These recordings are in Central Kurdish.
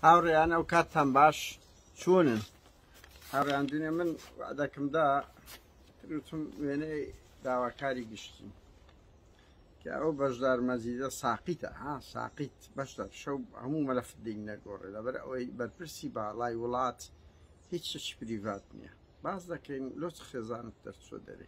هاوڕێیان ئەو کاتتان باش چوونن هاوڕیان دونێ من دەکەمدا تروتم وێنەی داواکاری گشتی کە ئەو بەشدار مەزیدە ساقیتە ها ساقیت بەشدار شەو هەموو مەلەف دین نەگۆڕێ لەبەر ئەوەی بەرپرسی باڵای وڵات هیچ شت پریڤات نییە باز دەکەین لۆچ خێزانت دەرچوە دەرێ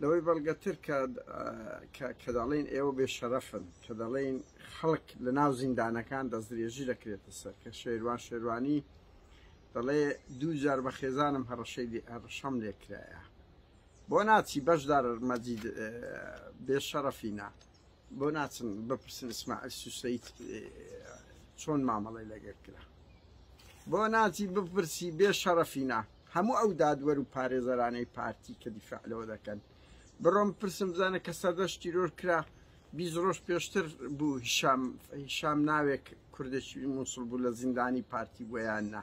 لەوەی بەڵگەتر کە کە دەڵێن ئێوە بێ شەرەفن کە دەڵێن خەڵک لە ناو زیندانەکان دەستدرێژی دەکرێتە سەر کە شێروان شێروانی دەڵێ دوو جار بە خێزانم هەڕەشەی هەڕشەم لێکرایە بۆ ناچی بەشدار مەجید بێ شەرەفینە بۆ ناچن بپرسن ئیسماعیل سوسەیت چۆن مامەڵی لەگەر کرا بۆ ناچی بپرسی بێ شەڕەفینە هەموو ئەو دادوەر و پارێزەرانەی پارتی کە دیفاع لەوە دەکەن بڕۆم پرسم بزانە کە سەردەش تیرۆر کرا بیست ڕۆژ پێشتر بوو هیشام هیشام ناوێک کوردێکی مووسڵ بوو لە زیندانی پارتی بۆیان نا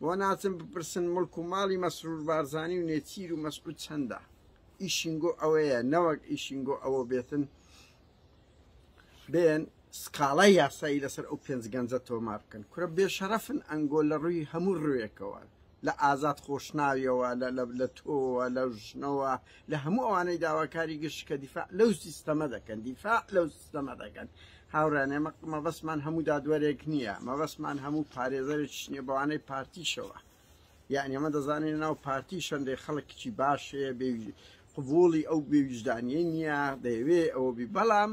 بۆ ناچن بپرسن مڵک و ماڵی مەسرور بارزانی و نێچیر و مەسعود چەندە ئیشین گۆ ئەوەیە نەوەک ئیشین گۆ ئەوە بێتن بێن سکاڵای یاسایی لەسەر ئەو پێنج گەنجە تۆمار بکەن کورە بێ شەرەفن ئەنگۆ لە ڕووی هەموو ڕوێکەوە لە ئازاد خۆشناویەوە لە تۆوە لە ژنەوە لە هەموو ئەوانەی داواکاری گشت کە دیفاع لەو سیستەمە دەکەن دیفاع لەو سنە دەکەن هاوڕێیان ئێمە مەبەستمان هەموو دادوەرێک نییە مەبەستمان هەموو پارێزەرێکیش نییە بەوانەی پارتیشەوە یعنی ئەمە دەزانین ناو پارتی شەندەی خەڵکیی باشەیە بێ قبوڵی ئەو بێویژدانیە نییە دەیەوێ ئەوە بی بەڵام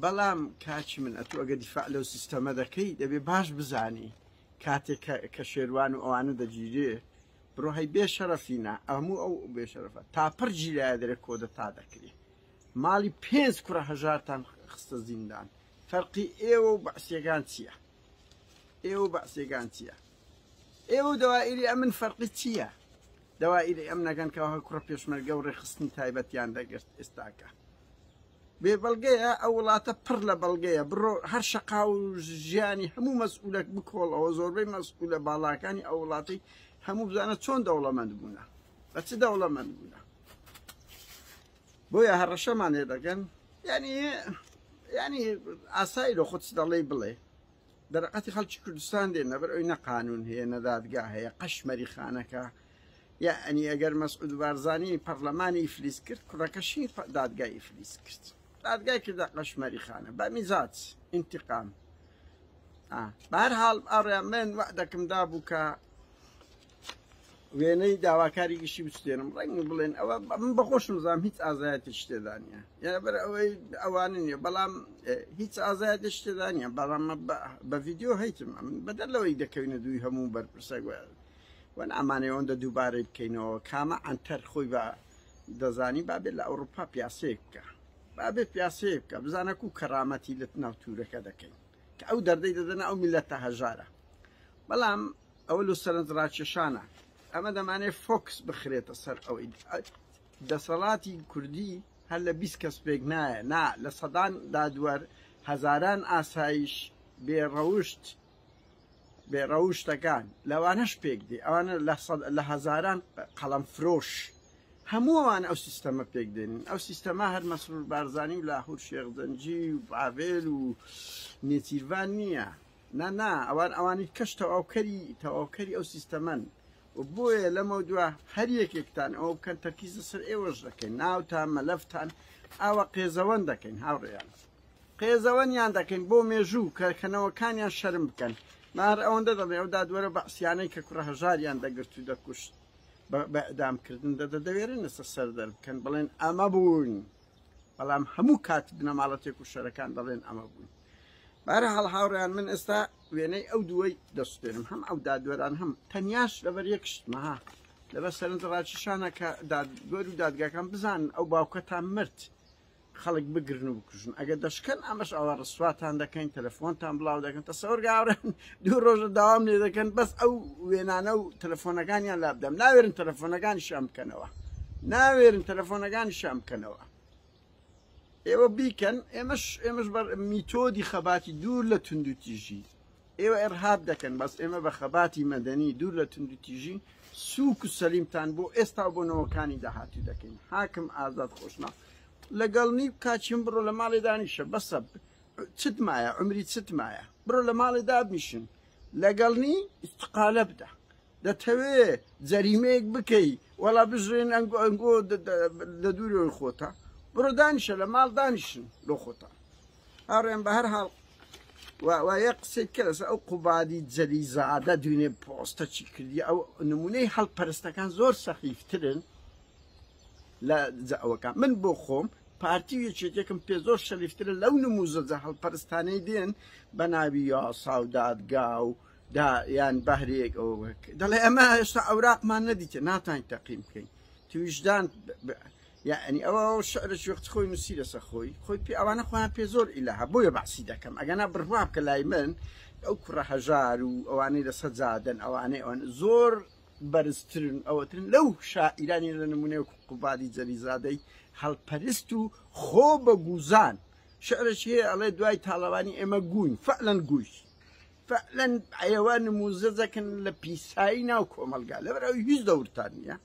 بەڵام کاچی من ئەتو ئەگە دیفاع لەو سیستەمە دەکەی دەبێ باش بزانی کاتێک کە شێروان و ئەوانە دەگیرێ بڕۆهای بێ شەرەفینە ئەموو ئەو بێ شەرەفە تاپڕ گیرایە دەرێ کۆدە تا دەکرێت ماڵی پێنج کوڕە هەژارتان خستە زیندان فەرقی ئێوە و بەعسیەگان چیە ئێوە و بەعسیەگان چیە ئێوە و دەوائیری ئەمن فەرقی چیە دەوائیری ئەم نەگەن کە هە کوڕە پێشمەرگە و ڕێخستنی تایبەتیان دەگرت ئێستاکە بێ بەڵگەیە ئەو وڵاتە پڕ لە بەڵگەیە بڕۆ هەر شقا و ژیانی هەموو مەسئولەک بکۆڵەوە زۆربەی مەسئولە باڵاکانی ئەو وڵاتی هەموو بزانە چۆن دەوڵەمەند بوونە بە چ دەوڵەمەند بوونە بۆیە هەڕەشەمان لێ دەکەن یعنی یعنی ئاسایی لۆ خۆت دەڵێی بڵێ دەرەقەتی خەڵکی کوردستان دێن نەبەر ئەوی نە قانون هەیە نەدادگا هەیە قەشمەری خانەکە یا ئەنی ئەگەر مەسعود بارزانانی پەرلەمانی فلیس کرد کوڕەکەشی دادگای فلیس کرد دادگای کردە قەشمەری خانە بە میزات انتقام بارحاڵ ئاڕێ من وە دەکەم دابوو کە وێنەی داواکاری گشتی بچێنم ڕەنگ بڵێن ئەوە من بەخۆشم زام هیچ ئازایەتی شتێدا نیە یابەر ئەوەی ئەوانە نیە بەڵام هیچ ئازایەتی شتێدا نیە بەڵام بە ڤیددیو هەیتم من بەدەر لەوەی دەکەوینە دووی هەموو بەرپرسە گوێن وەن ئامانەی ئەوەندە دووبارەی بکەینەوە کامە ئەتەر خۆی بە دەزانی بابێت لە ئەوروپا پیاسەیە بکە بابێت پیاسەیە بکە بزانە کو کەڕامەتی لە ناو تورەکە دەکەین کە ئەو دەردەی دەدەنە ئەو میلەتە هەژارە بەڵام ئەوە لۆ سەرنج ڕاکێشانە ئەمە دەمانێ فۆکس بخرێتە سەر ئەوەی دەسەڵاتی کوردی هەر لە بیست کەس پێک نایە نا لە سەدان دادوەر هەزاران ئاسایش بێڕەوشت بێڕەوشتەکان لەوانەش پێک دێ ئەوانە لە هەزاران قەڵەم فرۆش هەمووان ئەو سیستەمە پێک دێنین ئەو سیستەما هەر مەسرور بارزانانی و لاهور شێخزەنجی و باڤێل و نێچیرڤان نییە نا نا ئەوان ئەوانی کەش تەواوکەری تەواوکەری ئەو سیستەمەن بۆیە لەمە دوا هەر یەکێکتان ئەو بکەن تەرکیز سەر ئێوەش دەکەین ناوتان مەلەفتان ئاوە قێزەوەن دەکەین هاوڕێیان قێزەوەنیان دەکەین بۆ مێژوو کەکەنەوەکانیان شەرم بکەن مار ئەوەندە دەڵێ ئەو دادوەرە بەعسیانەی کە کوڕە هەژاریان دەگرت و دەکوشت بەدامکردن دەدە دەوێرن لەسەر سەر دەربکەن بڵێن ئەمە بوون. بەڵام هەموو کات بنەماڵە تێکوشەرەکان دەڵێن ئەمە بوون بارە هەڵ هاوڕیان من ئێستا وێنەی ئەو دووەی دەستێنم هەم ئەو دادوەران هەم تەنیاش لەبەر یەکشتمەها لەبەر سەرنج ڕاکیشانە کە دادوەر و دادگاکان بزان ئەو باوکەتان مرد خەڵک بگرن و بکوژن ئەگە دەشکەن ئەمەش ئەوە ڕسواتان دەکەین تەلەفۆنتان بڵاو دەکەن تەسەوەرگاورن دوو ڕۆژە داوام لێ دەکەن بەس ئەو وێنانە و تەلەفۆنەکانیان لابدەم ناوێرن تەلەفۆنەکانی شام بکەنەوە ناوێرن تەلەفۆنەکانی شام بکەنەوە ئێوە بیکەن ئێمەش ئێمەش بەر میتۆدی خەباتی دوور لە توندو تیژی ئێوە ئێرهاب دەکەن بەس ئێمە بە خەباتی مەدەنی دوور لە توندو تیژی سوک و سەلیمتان بۆ ئێستا بۆ نەوەکانی داهاتوو دەکەین حاکم ئازاد خۆشنا لەگەڵ نی کاچیم بڕۆ لە ماڵێ دانیشە بەسە چت مایە عمری چت مایە بڕۆ لە ماڵێ دابنیشن لەگەڵنی استقالە بدە دەتەوێ جەریمەیەک بکەی وەڵا بژێن ئەنگۆ ئەنگۆ لە دوورەوەی خۆتە بڕۆ دانیشە لە ماڵ دانیشن لۆ خۆتان ئاڕێن بە هەر حاڵ وایە قسەی کەس ئەو قوبادی جەلی زادە دوێنێ پۆستە چی کردی ئەو نمونەی هەڵپەرستەکان زۆر سەخیفترن لە جاوەکان من بۆ خۆم پارتی و یەکێتێکم پێ زۆر شەریفترە لەو نموزە جەهەڵ پەرستانەی دێن بە ناوی یاسا و دادگا و دا یان بەهرێک ئەوەک دەڵێ ئەمە هێشتا ئەوراقمان نەدیتە ناتان تەقیم بکەین تویشدان یعنی ئەوە شعرە شوێخت خۆی نووسی لەسە خۆی خۆی پێ ئەوانە خۆیان پێ زۆر ئیلها بۆیە بەعسی دەکەم ئەگەنا بڕواب کە لای من ئەو کوڕە هەژار و ئەوانەی لەسەر جادن ئەوانەی ئەوان زۆر بەرزترن ئەوترن لەو شاعیرانی لە نمونەی وەکو قوبادی جەلیزادەی هەلپەرست و خۆ بە گوزان شعرێکی هەیە ئەڵێ دوای تاڵەوانی ئێمە گووین فەعلەن گووی فەعلەن ئەیەوە نموزەجەکن لە پیسایی ناو کۆمەلگا لەبەر ئەوی هیچ دەورتان نییە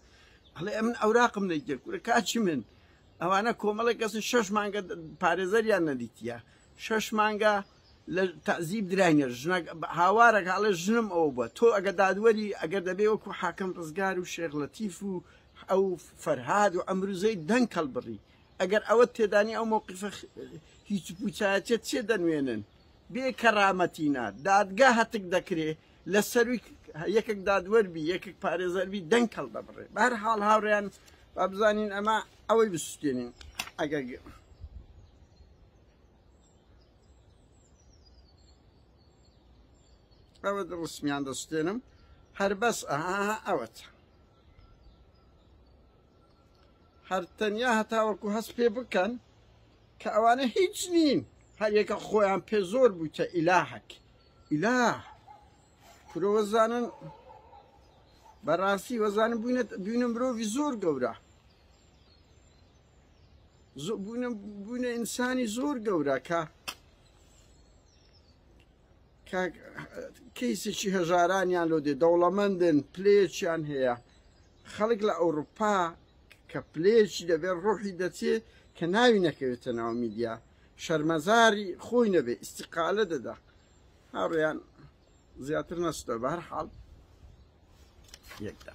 ئەڵێ ئەمن ئەوراقم لە گەرکورە کاچی من ئەوانە کۆمەڵێک کەسن شەش مانگە پارێزەریان نەدیتە شەش مانگە لە تەعزیب دراینە ژنەک هاوارەکە ئەڵێ ژنم ئەوە بووە تۆ ئەگە دادوەری ئەگەر دەبێ وەکو حاکم ڕزگار و شێخ لەتیف و ئەو فەرهاد و ئەمروزەی دەنگ هەڵبڕی ئەگەر ئەوە تێدانی ئەو موقفە هیچ پوچایەتە چێ دەنوێنن بێ کەرامەتینە دادگا هەتک دەکرێ لە سەروی یەکێک دادوەربی یەکێک پارێزەربی دەنگ هەڵدەبڕێ بەر حاڵ هاوڕیان با بزانین ئەمە ئەوەی بسوتێنین ئەگەر ئەوە ڕسمیان دەستێنم هەر بەس ئەها ئەوەت هەر تەنیا هەتاوەکو هەست پێ بکەن کە ئەوانە هیچ نین هەریەکە خۆیان پێ زۆر بووتە ئیلاحەک ئیلا کرۆزانن بەڕاستی وەزانم بووینە بووینە مرۆڤی زۆر گەورە بوونە ئینسانی زۆر گەورە کە کەیسێکی هەژارانیان لۆ دێ دەوڵەمەندن پلێچیان هەیە خەڵک لە ئەوروپا کە پلێچی دەبێت ڕۆحی دەچێ کە ناوی نەکەوێتە ناو میدیا شەرمەزاری خۆی نەبێ ئیسیقالە دەدا هاڕیان زیاتر نەستە بەر حاڵ یەکدا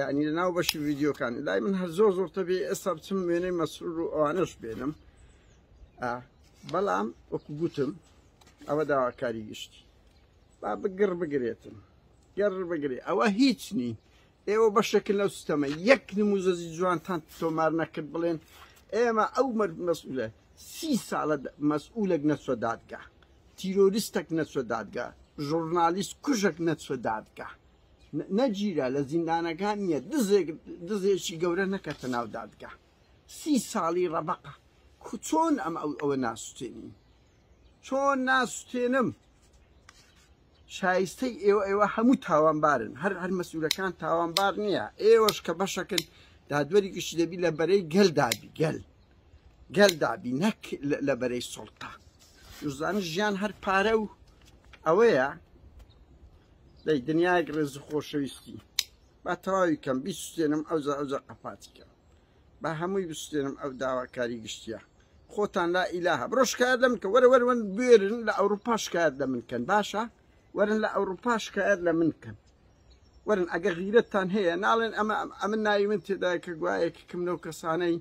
یعنی لە ناو بەشی ڤیددیوکان لای من هەر زۆر زۆر تەبێ ئێستا بچم وێنەی مەسرور و ئەوانش بێنم بەڵام وەکو گوتم ئەوە داواکاری گشتی با بگڕ بگرێتم گەڕ بگرێ ئەوە هیچ نی ئێوە بەشێکن لەو سیستەمە یەک نموزەزی جوانتان تۆمار نەکرد بڵێن ئێمە ئەو مرد مەسئولە سی ساڵە مەسئولێک نەچوە دادگا تیرۆریستێک نەچوە دادگا ژورنالیست کوژێک نەچوە دادگا نەگیرا لە زیندانەکان نیە دزێک دزێکی گەورە نەکەتە ناو دادگا سی ساڵی ڕەبەقە چۆن ئەم ئەو ئەوە ناسوتێنین چۆن ناسوتێنم شایستەی ئێوە ئێوە هەموو تاوانبارن هەر هەر مەسوولەکان تاوانبار نییە ئێوەش کە بەشەکن دادوەری گشتی دەبی لە بەرەی گەل دابی گەل گەل دابی نەک لە بەرەی سوڵتە زانە ژیان هەر پارە و ئەوەیە دەی دنیایەک ڕێز و خۆشەویستی با تەواوی کەم بیستێنم ئەوزە ئەوزە قەپاتیکە با هەمووی بستێنم ئەو داواکاری گشتیە خۆتان لا ئیلاها بڕۆ شکایەت لە من کە وەرە وەرەوەن بێرن لە ئەوروپا شکایەت لە من کەن باشە وەرن لە ئەوروپا شکایەت لە من کەن وەرن ئەگە غیرەتتان هەیە ناڵێن ئەمە ئەمە ناوی من تێدا کە گوایەکی کەم لەو کەسانەی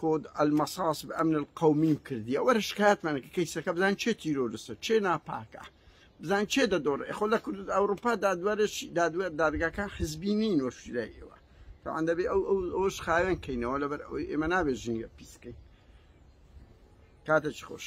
کۆد المصاص بە ئەمن القومیم کردیە وەرە شکایەتمانەکە کەیسەکە بزان چێ تیرۆرستە چێ ناپاکە بزان چێ دەدۆڕێ خۆ لە کورد ئەوروپا دادوارێک دادوێت دادگاکان حزبی نین وەشیلای ئێوە تاوان دەبێ ئەو ئەوش خاوێن کەینەوە لەبەر ئەوەی ئێمە نابێت ژینگە پیسکەین کاتێکی خۆش.